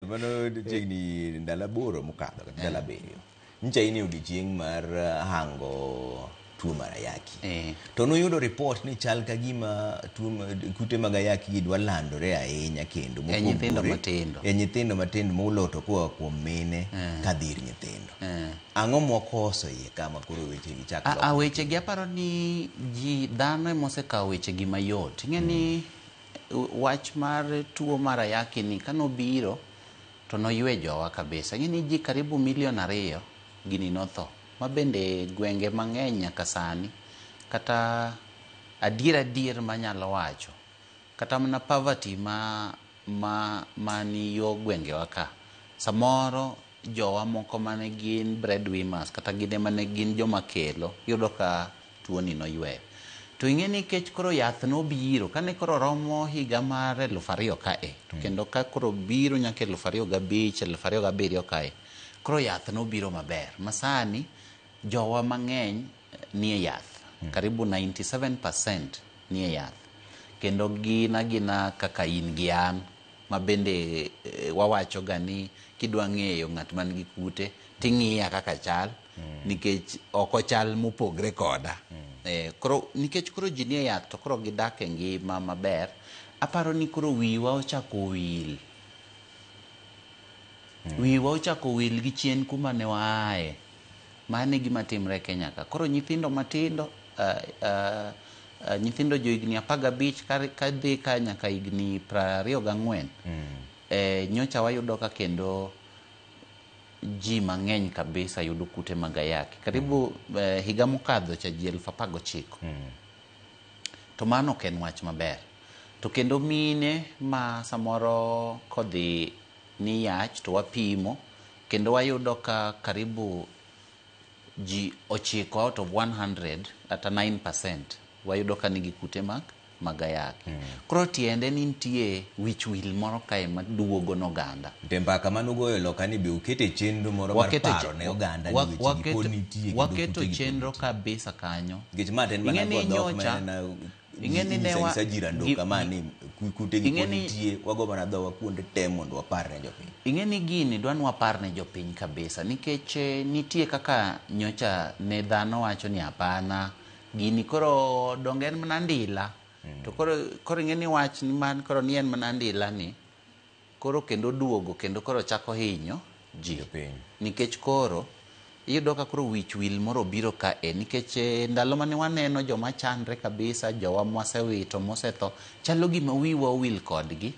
Mano chiegni ndalo aboro mokadho kata ndalo abiriyo. Nyicha in e odiechieng' mar uh, hango tuo mar ayaki. Eh. To nuyudo ripot ni chal ka gima tuo ma- kute mag ayaki gi dwa landore ahinya kendo mopogore- nyithindo matindo. E nyithindo matindo muloto koa kuom mine Eh. ka dhir nyithindo. Eh. Ang'o mwakoso iye kama koro weche gi chak A- a lokore? wechegi aparo ni ji dhano emosekawo wechegi mayot ing'e ni wach mar tuo mar ayaki ni kane obiro to noywe jowa kabisa. Ing'e ni ji karibu milion ariyo gini notho. Ma bende gwenge mang'eny nyaka sani. Kata adier adier manyalo wacho, kata mana poverty ma ma mani yo gwengewa ka, samoro jowa moko mane gin breadwinners kata gin emane gin joma kelo, iyudo ka tuoni noyweyo. To ing'e ni kech koro yath nobiro kane koro romo higa mar eluf ariyo kae to kendo ka koro biro nyaka eluf ariyo gabich, eluf ariyo gabiriyo kae koro yath nobiro maber ma sani jowa mang'eny nie yath. Karibu 97 percent nie yath kendo gin agina kaka in gi an ma bende wawachoga ni kidwa ng'eyo ng'at man gi kute ting'iya kaka achal. nikech ok ochal mopogre koda Eh, koro nikech koro ji nie yath to koro gidak e ngima maber aparo ni koro wiwa ochako wil wiwa ochako wil gi chien kuma ne waaye mano e gima timre e kenya ka koro nyithindo matindo ah, ah, ah, nyithindo jo higni apar gabich ka- ka dhi ka nyaka higni prariyo gang'wen eh, nyocha wayudo ka kendo ji mang'eny kabisa yudo kute mag ayaki karibu mm. eh, higa mokadho cha ji elfu apar gochiko mm. to mano ok en wach maber to kendo mine ma samoro kodhi ni yach to wapimo kendo wayudo ka karibu ji ochiko out of 100 kata 9 percent wayudo ka nigi kute mag mag ayaki. Koro tiende ni nitie wich wil moro kae maduogo ne oganda. To e mbaka mane ugoyo e loka ni be uketo e chenro moro mar Waketo e paro che- ne oganda ni wa- weche gi waketo- pod nitie kendo waketo kute gi pod chenro nitie. kabisa kanyo. Nikech ma to en mana Ing'e ni go dhok ma nyocha- en na- ing'e ni ne wa- inyisa jira ndo gi- kama ni ku- kute gi ing'e pod ni- nitie wago mana dhowa kuonde te mondo wapar ne jopiny. Ing'e ni gini dwa ni wapar ne jopiny kabisa nikech eh, nitie kaka nyocha ne dhano wacho ni hapana gini koro donge en mana ndila to koro koro ing'e ni wach ni man koro ni en mana ndila ni koro kendo duogo kendo koro chako hinyo ji Jopiny. nikech koro iyudo ka koro wich wil moro obiro ka e nikech eh, ndalo mane waneno joma chandre kabisa jowa mwasewito mosetho chalo gima wiwa owil kodgi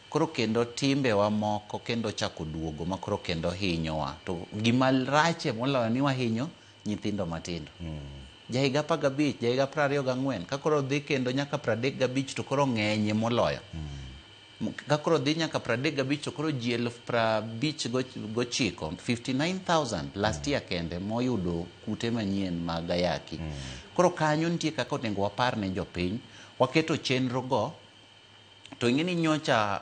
koro kendo timbewa moko kendo chako duogo ma koro kendo hinyowa to gima rachie moloyo ni wahinyo nyithindo matindo. Jahiga apar gabich, jahiga piero ariyo gang'wen, ka koro odhi kendo nyaka piero adek gabich to koro ng'enye moloyo. Ka koro odhi nyaka piero adek gabich to koro ji elfu piero abich go- gochiko, 59,000 last year kende moyudo kute manyien mag ayaki. Koro kanyo nitie kaka onego wapar ne jopiny, waketo chenrogo to ing'e ni nyocha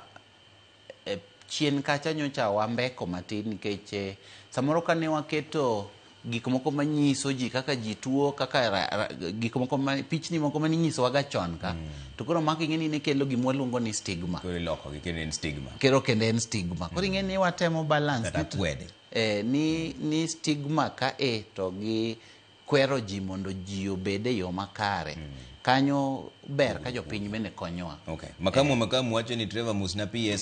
e chien kacha nyocha wambeko matin nikech eh, samoro kane waketo gik moko manyiso ji kaka ji tuo kaka ra- ra- gik moko ma- pichni moko maninyisowaga chon ka to koro mako ing'e ni ne kelo gima waluongo ni stigma koro ilokogi kendo en stigma kero kendo en stigma koro ing'e ni watemo balance Kata ni- kwede. eh, ni, ni stigma ka e to gi kwero ji mondo ji obed e yo makare mm. kanyo ber ka jopiny bende konyowa okay. makamu eh. makamu wacho ni Trevor Musna PS